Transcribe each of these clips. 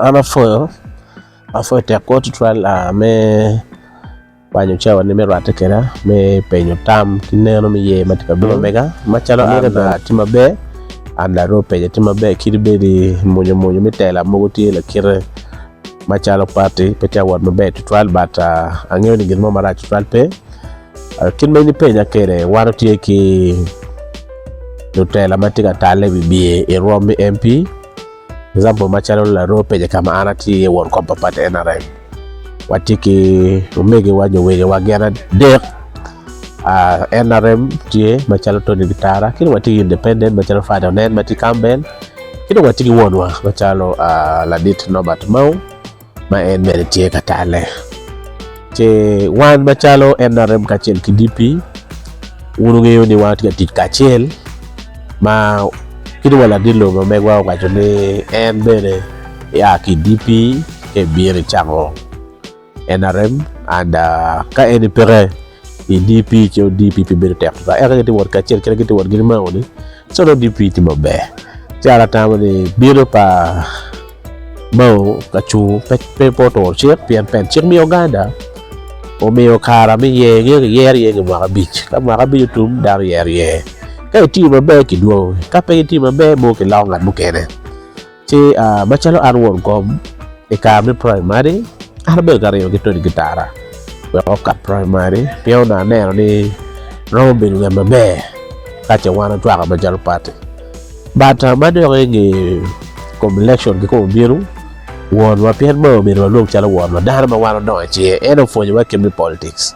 An apwoyo, apwoyo tekwo tutwal me kwanyo cawa ni me rwatte keda me penyo tam ki neno me ye matye ka bino mega macalo an atye maber an laroo penyo atye maber kadi bed ni mwonya mwonya me tela mogo tye lakite macalo party pe tye ka wot maber tutwal but angeyo ni gin mo marac tutwal pe kit ma in ipenya kwede wan watye ki lutela matye ka tale i wi biye i rwom me MP. Example macalo laroo pege ka ma an atye iye won kom pa pati NRM watye ki omegiwa nyo wegiwa gin adek NRM tye macalo Tony Kitara ki dong watye ki independent macalo Fada Onen ma tye i Cambell ki dong watye ki wonwa macalo ladit Norbert Mao. ma en bene tye ka talle. Ce wan macalo NRM kacel ki DP, wun wungeyo ni wan watye ka tic kacel ma kit ma ladit lobo ma megwa owaco ni en bene ea ki i DP ka ibino icako NRM and ka en peke DP ki DPP bedo tek tutwal eka gitye wot kacel kit ma gitye wot gin mako ni ci dong DP tye maber ci an atamo ni bino pa Mao kacung pe pe pe oturo cik pien pe cik me Uganda omiyo kara me yer nge ki yero iye nge mwaka abic ka mwaka abic otum dano yero iye ka itiyo maber kidwongo ka pe itiyo maber mono kiloko ngat mukene. Ci macalo an won kom, i kare me praimari an abedo ka ringo ki Tony Gitara wek okat praimari pien onongo aneno ni romo bedo ngat maber ka ce wan ocwako macalo pati. But ma dok i nge kom lekcon kikome obino, wonwa pien onongo obedo ma lwong calo wonwa dano ma wan odongo i cinge en opwonyowa kit me politics.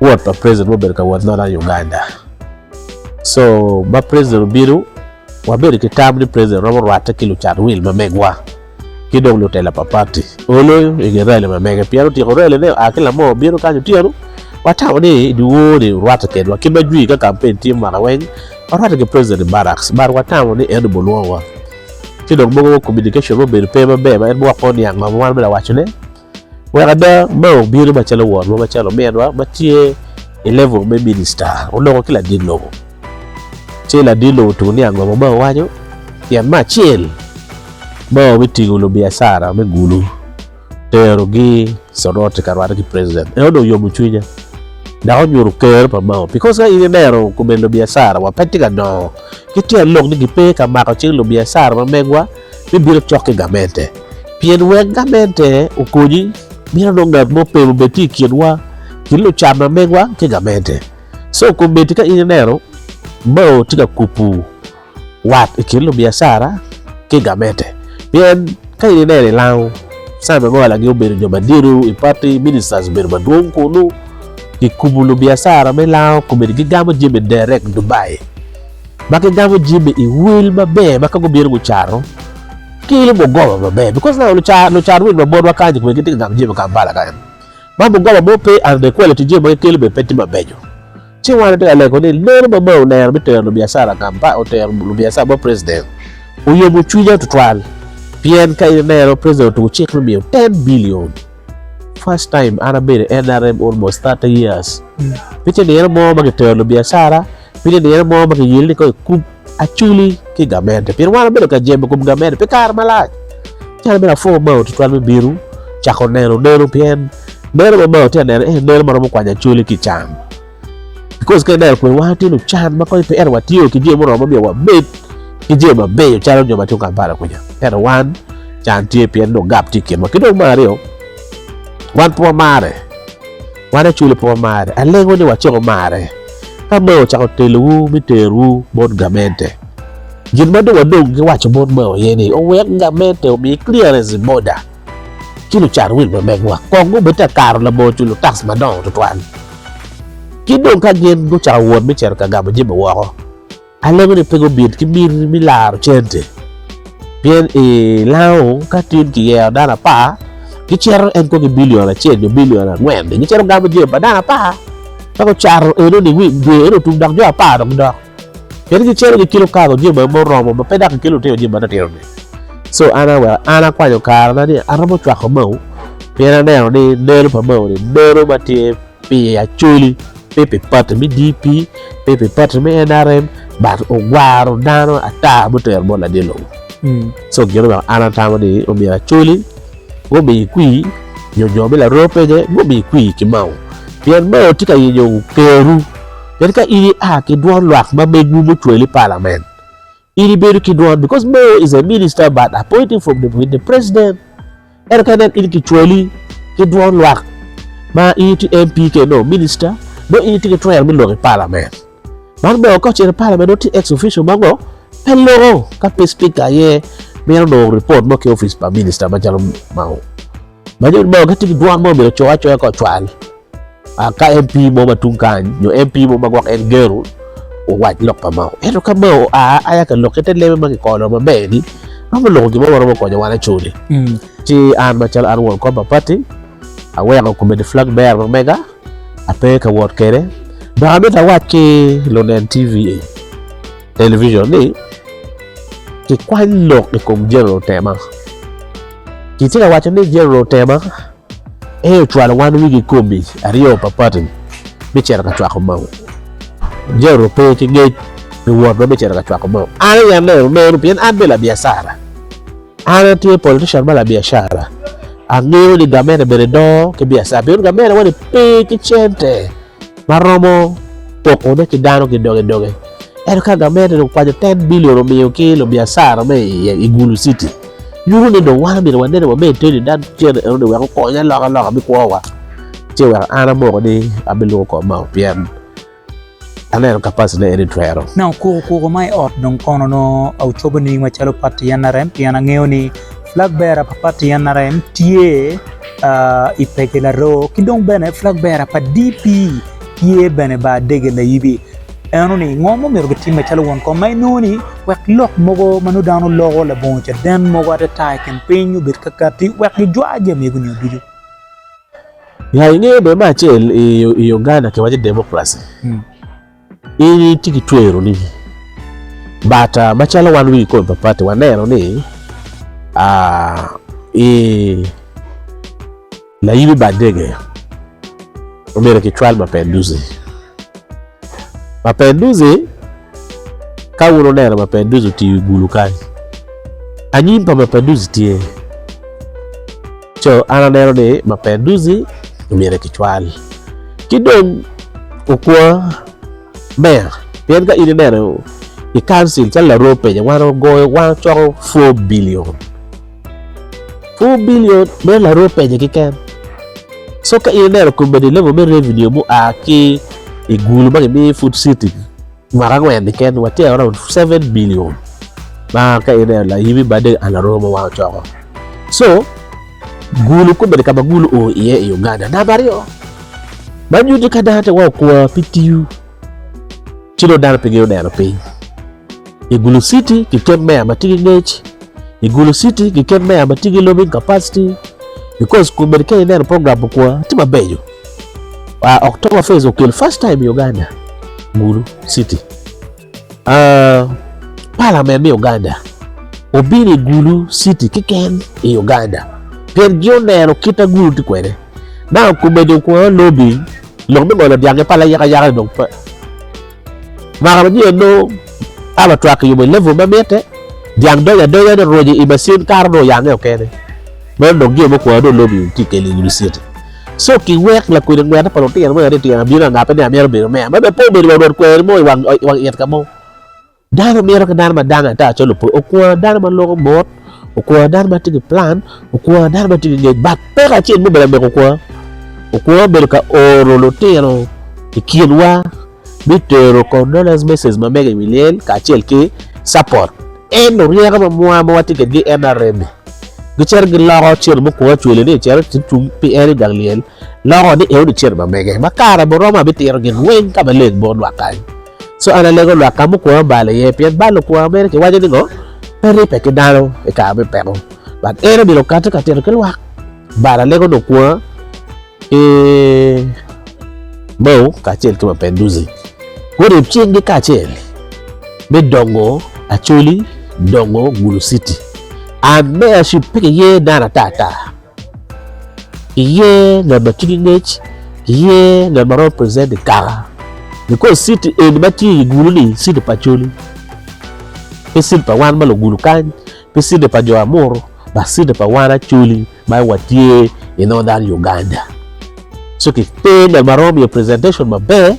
Wot pa president mubedo ka wot nono i Uganda. So ma president obino, wabedo ki tam ni president romo rwatte ki lucat wil ma megwa ki dong lutela pa party. Oloyo i nge rali ma mege pien otyeko rali ne oa ki lamoo obino kany otyeno. Watamo ni i dye wor ni orwatte kedwa ki ma jwi ka campaign tye mwaka weng warwatte ki president i barracks but watamo ni en obolwongo wa. Ci dong mogo communication mubedo pe maber ma en biwok kong niang ma wan me lawaco ne. Wek ada ma obino macalo wonwa, macalo ominwa ma tye i level me minista onongo ki ladit lobo ci ladit lobo otugo ni ango ma owaco pien me acel ma obitingo lubiacara me gulu terogi Soroti ka rwate ki president eno dong oyomo cwinya dok onyuto ker pa mao bikos ka in ineno kome lubiacara wa pe tye ka dongo ki tyen lok ni gipe ka mako cing lubiacara ma megwa. bibino cok ki gamente. Pien wek gamente okonyi, mito dong ngat mo pem obed tye i kinwa ki lucat ma megwa ki gamente. So komedi ka in ineno bao tye ka kubu wat i kin lubiacara ki gamente. Pien ka in ineno i lango cawa me ngo lagi obedo jo madito i party ministers obedo madwong kunu kikubu lubiacara me lango komedi gigamo jami direct Dubai. ma gigamo jami i wil maber ma ka gubino gucato kelo mugoba maber because now lucat lucat wil ma botwa kany kong gitye ka gamo jami ma Kampala kany ma mugoba mo pe and the quality jami ma gikelo bene pe tye mabeco ci wan watye ka lego ni meno ma Mao oneno me tero lubiacara Kampala otero lubiacara bot president oyomo cwinya tutwal pien ka in ineno president otuko cik me miyo ten billion first time an abedo i NRM almost thirty years pe ce nino mo ma kitero lubiacara Pi nino mo ma kiyeli ni kong ikub aculi ki gamente pien wan wabedo ka jemo kom gamente pi kare malac. Calo mere apwongo Mao tutwal me bino cako neno neno pien neno ma Mao tye ka neno eni neno ma romo kwanyo acoli ki can. Bikos ka ineno kwede wan watye lucan ma kong pe ento watiyo ki jami muromo ma myero wabed ki jami mabeco calo jo ma tung Kampala kwica. Ento wan can tye pien dong gap tye i kinwa. Ki dong me aryo wan pe wamarre. Wan aculo pe wamare, alego ni waciko mare. Ka mao ocako telowu me terowu bot gamente, gin ma dong wadong ki waco bot mao aye ni owek gamente omi clearance i boda ci lucat wil ma megwa kong gubed ka kato labongo culo tax madongo tutwal. Ki dong ka gin gucako wot me cito ka gamo jami woko, Alego ni pe gubin ki bim me laro cente, pien i lango ka tun kiyero dano apar, gicito en kong ki bilion acel nyo bilion angwen-ni, gicito gamo jami pa dano apar, ka gucato enoni wi dwe eno otum dok jo apar dong gidok. Kadi gicito gikelo kago jami ma oromo ma pe dok kikelo lutino jami matinotino-ni. Co an aweko an akwanyo karena ni aromo cwako mau pien aneno ni neno pa mauni neno ma tye pi Acholi pe pi pati me DP pe pi pati me NRM but ogwaro dano ata ma otero bot ladye lobo so gin omyero an atamo ni omyero Acholi gumi kwi nyo jo me Laropene gumi kwi ki Mao pien Mao tye ka yenyo keru pien ka in ia ki dwon lwak ma megwu mucweli i palament In ibedo ki dwon because Mo is a minister but appointing from the with the president. Ento ka nen in kicwali ki dwon lwak ma in itye MP ke no minister, no in itye ki twero me lok i parliament. Man bene ka ocito i parliament no tye ex official ma ngo pe loko ka pe speaker aye mito nongo report mo ki office pa minister macalo mao. Ma nyuto bao gitye ki dwon mo obedo coyo acoya ka ocwal ka MP mo ma tung kany nyo MP mo ma gwok en geno owac lok pa Mao. Ento ka Mao oa aya ka lok ki te lebe ma kikolo maber ni romo loko gin mo ma romo konyo wan acoli. Ci an macalo an won kom pa pati aweko komiti flag bearer ma mega ape ka wot kwede dok amito awac ki lunen TV, television ni kikwany lok i kom General Tema. Kitye ka waco ni Jeneral Otema aye ocwalo wan wigi kikomi aryo pa pati me cito ka cwako moko. Jeneral ope ki ngec pi wotwa me cito ka cwako moko. An aye aneno meno pien an bene labiacara. An atye politician ma labiacara. Angeyo ni gamente bene dongo ki biacara pien gamente-wa-ni pe ki cente. ma romo pokone ki dano ki doge doge ento ka gamente dong okwanyo ten billion omiyo ki lubiacara me i gulu citi nyuto ni dong wan omyero wanene wa me iteni dan cene eno ni wek okonye aloka loka me kwo wa ce wek an amoko ni abiluko kong mao pien aneno capacity ne en ni twero. Na okuko kuko ma i ot dong kono nongo aucobo nining macalo pati NRM pien angeyo ni Flagbearer pa pati NRM tye i peke Laroo ki dong bene flagbearer pa DP tye bene bar dege Layibi. Eno ni ngo ma omyero gitimme calo won kom ma inongo ni wek lok mogo ma nongo dano loko labongo caden mogo atata i kin piny obed kakatti wek gijwa jami ego nio ducu. Ya ingeyo bene me acel i Uganda kiwaco democracy. In itye ki tweroni but uh, macalo wan wigi kome papatti waneno ni uh, i layimi bad dege obedo ki cwal mapenduzi mapenduzi ka wun oneno mapenduzi otiyo i gulu kany anyim pa mapenduzi tye Co an aneno ni maber duzi omyero kicwal ki dong okwa meya pien ka in ineno i kancil calo larwo penya wan ogoyo wan ocoko four billion, four billion meno larwo penya keken so ka in ineno komedi level me revenue mua ki i gulu ma kimiyo i food city. Mwaka angwen keken watero around seven billion ma ka in aye layibi bade an aromo ma wang ocoko. So gulu kobedi ka ma gulu o iye i Uganda. Namba aryo, man nyuto ni ka dano te wa okwa pi tiyo ci dong dano pe gineno piny. I Gulu City kiket meya ma tye ki ngec, i Gulu City kiket meya ma tye ki lobbying capacity because kobedi ka ineno program okwa tye mabeco. Uh, October Fest okel first time i Uganda, Gulu City. Uh, Parliament me Uganda obino i Gulu City kiken i Uganda. Pien gi oneno kita Gulu ti kwene. Na okube dong kwa lobi, lok me ngolo dyang pa la yaka yaka dong pa. Maka ma nyo no aba twak yubo i level ma mite, dyang donya donya ni roje i masin karo no yange okene. Mano dong gio mo kwa do lobi ti keli Gulu City. Co ki wek lakwena ngwena pa lutino me aryo tyen abino angape ni amito bedo meya ma pe obedo wa rwod kweri mo i wang it ka mo. Dano mito ki dano ma dange ata calo opwony okwongo dano ma loko mot okwongo dano ma tye ki plan okwongo dano ma tye ki ngec but peko acel ma obedo amego okwongo okwongo obedo ka oro lutino i kinwa. me tero condolence message ma mege i wi lyel kacel ki support. En oryeko ma mwa ma watye kwedgi i NRM ni gicito giloko cen mo kwo cwele ni ecito ci cung pi en i gang lyel loko ni eno ni cen ma mege ma kare muromo abitiro gin weng ka maleng bot lwak kany. So an alego lwak ka mukwowa balo iye pien balo kwowa mene kiwaco ni ngo pe ribbe ki dano i kare me peko but en omyero okati ka tito ki lwak but alego nokwowa ki bao kacel ki mapeduzi guryeb cinggi kacel me dongo Acholi, dongo Gulu City. An me Acuc pe kiye nano ata ata, kiye ngat ma cwinye ngec, kiye ngat ma romo present i kaka because city eni ma tye i Gulu-ni city pa Acholi pe city pa wan ma Lugulu kany, pe city pa jo Amuru dok city pa wan Acholi. Ma watye i Northern Uganda so ki te ngat ma romo miyo presentation maber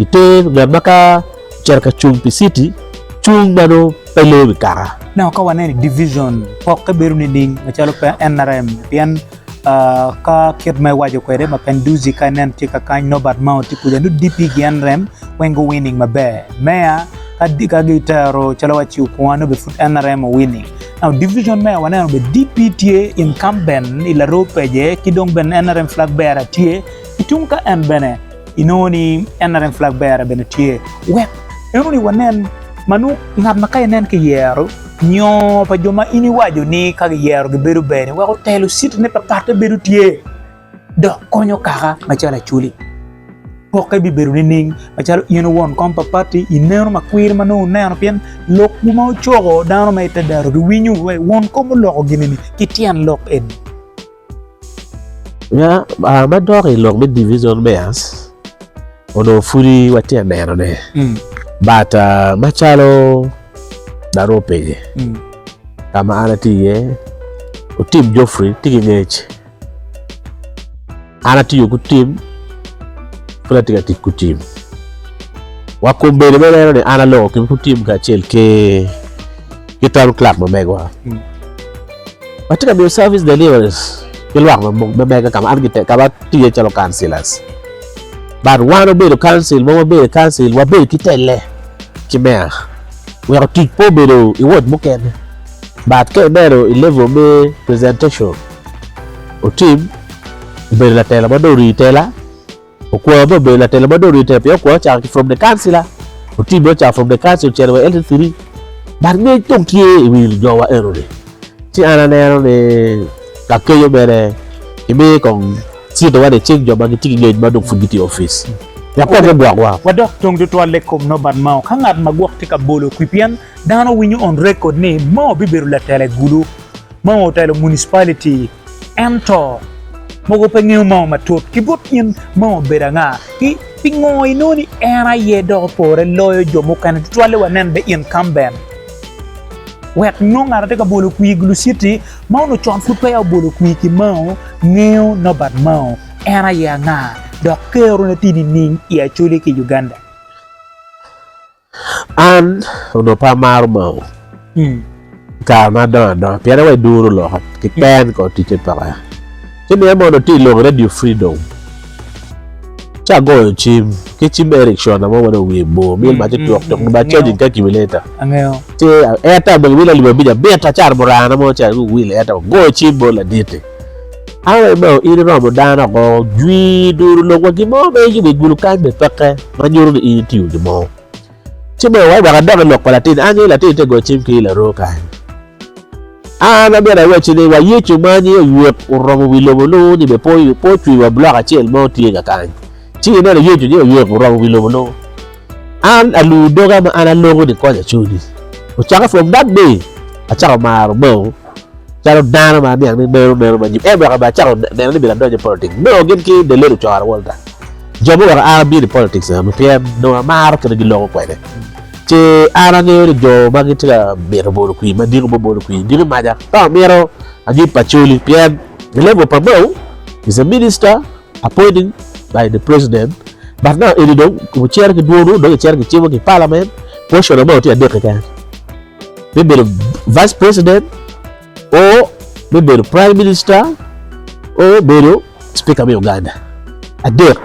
ki te ngat ma ka ocito ka cung pi city cung ma nongo pe loo wi kaka. Nongo ka waneno i division pokke bedo nining macalo pe NRM pien ka kit ma iwaco kwede ma Penduzi ka ineno tye ka kany Norbert Mao tye kuca nongo DP ki NRM weng gu winning maber. Mayor ka gitero calo wa Chiukwonga nongo bene pud NRM owinning. Now division me waneno be DP tye incumbent i laroo page ki dong bene NRM flag bearer tye ki tung ka en bene inongo ni NRM flag bearer bene tye wek inongo ni wanen ma nongo ngat ma ka inen ki yero nyo pa jo ma in iwaco ni ka giyero gibedo bene wek otelo city ne papatte bedo tye. dok konyo kaka macalo Acholi. Pokke bibedo nining macalo in won kom pa pati ineno ma kwir ma nongo ineno pien lokwu ma wucoko dano ma ite dero giwinyo wa won kom oloko gini ni ki tyen lok eni. Nya ma dok i lok me division mayors onongo pudi watye ka nenone but macalo daru openye ka ma an atye iye otim Geoffrey tye ki ngec. An atiyo ku tim, pud atye ka tic ku tim. Wa kum bedo me neno ni an aloko kemi ku tim kacel ki ki Town Clerk ma megowa. Watye ka miyo service deliveries ki lwak ma ma mega ka ma an gite ka ma atiye calo councillors. But wan obedo council ma wabedo i council wabedo ki telle ki meya weko tic pe obedo i ward mukene but ka ineno i level me presentation Otib obedo latela ma dong orii tela, Okwor bene obedo latela ma dong orii tela pien Okwor ocako ki from the councilor, Otib bene ocako from the councilor ocito wa LC three but ngec dong tye i wi lujowa enoni ci an aneno ni lakeco mere imiyo kong cito wa nicing jo ma gitye ki ngec ma dong pud gitye i opic wek kong gugwokwa. Wadok tung tutwalle i kom nobat mao. Ka ngat ma gwok tye ka bolo kwi pien Dano winyo on record ni Mao bibedo latela i Gulu ma ongo otelo municipality ento mogo pe ngeyo Mao matut ki bot in Mao obedo anga ki pingo inongo ni en aye dok opore loyo jo mukene tutwalle wa nen be incumbent wek nongo ngat atye ka bolo kwir i Gulu city ma ongo con pud peya obolo kwir ki Mao ngeyo Nobert Mao en aye anga dok kero ne tye nining i Acholi ki Uganda. An onongo pe amaro moo i kare ma adongo adonga pien aye duru loka keken kong ticce peke ci nongo en mono tye i lok redio fridom ci agoyo cim ki cim ma Erickson mo ma dong wiye bor myel macce tuk tuk dong bene cajing calculator ci Airtel dong myel alip abic abita caro muranga mo ci aye wi wil Airtel agoyo cim bot laditi. Are ma in iromo dano oko, jwi duru lok wa gin mo ma in jubed gulu kany me peke ma nyuto ni in itiyo gin mo. Ci me wai wek adok i lok pa latin, angi latin te go cim ki laroo kany. An amyero awacci ni wa Yecu ma nyinge Oyek oromo wi lobo nongo ni be po po ocwi wa blok acel mo tye ka kany. Ci ineno Yecu nyinge Oyek oromo wi lobo nongo. An aluu doga ma an aloko ni konya cuni. Ocakke from that day acako maro bao. calo dano ma aniang ni meno neno ma jip en weko bene acako neno ni myero adony i politik nongo gin ki the late ocoro walta jo ma oweko an abino i politik enoni pien nongo amaro kit ma giloko kwede ci an angeyo ni jo ma gitye ka mito bolo kwir ma diko me bolo kwir diko maca ka amito anyut pa coli pien the late wa pamau is a minister appointed by the president but now eni dong ocito ki dwono dong icito ki cimo ki parliament portion amao tye adek keken me bedo vice president o me bedo prime minister o bedo speaker me Uganda adek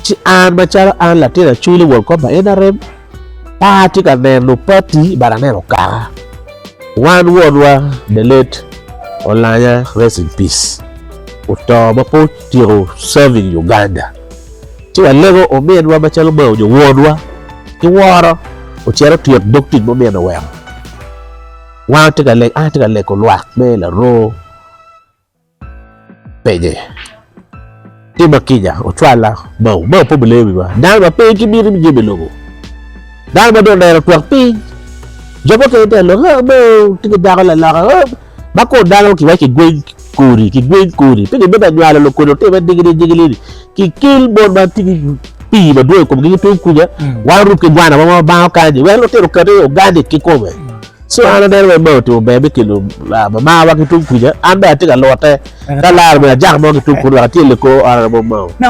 ci an macalo an latin acwiny wol kop pa NRM pe atye ka neno party but aneno kaka wan wonwa the late Olanya rest in peace oto ma pe otyeko serving Uganda. Ci walego ominwa macalo Mao nyo wonwa ki woro ocito otwit dog tic muminne oweko. Wan watye ka lego, an atye ka lego lwak me laroo penye. Tima kica, ocwala Mao. Mao pe obileyo wiwa. Dano ma pe ki miti me jemo i lobo. Dano ma dong oneno twak piny. Jo mukene tye ka lok, Mao tye ki dako laloka. Ma kor dano ki waci kigweng kodi kigweng kodi pe gibed anywalo lokodi otime digili digili ni ki kel mon ma tye ki pii madwong i komgi ki tung kuja wan orub ki gwana wa ma bang okanyi wek lutino okati organic kikome so an aneno wai mae otingo ber me kelo ah, mama wa ki tung kuja an bene atye ka lute ka laro bene ajaka mo ki tung kuja dok atye leko ot mo mao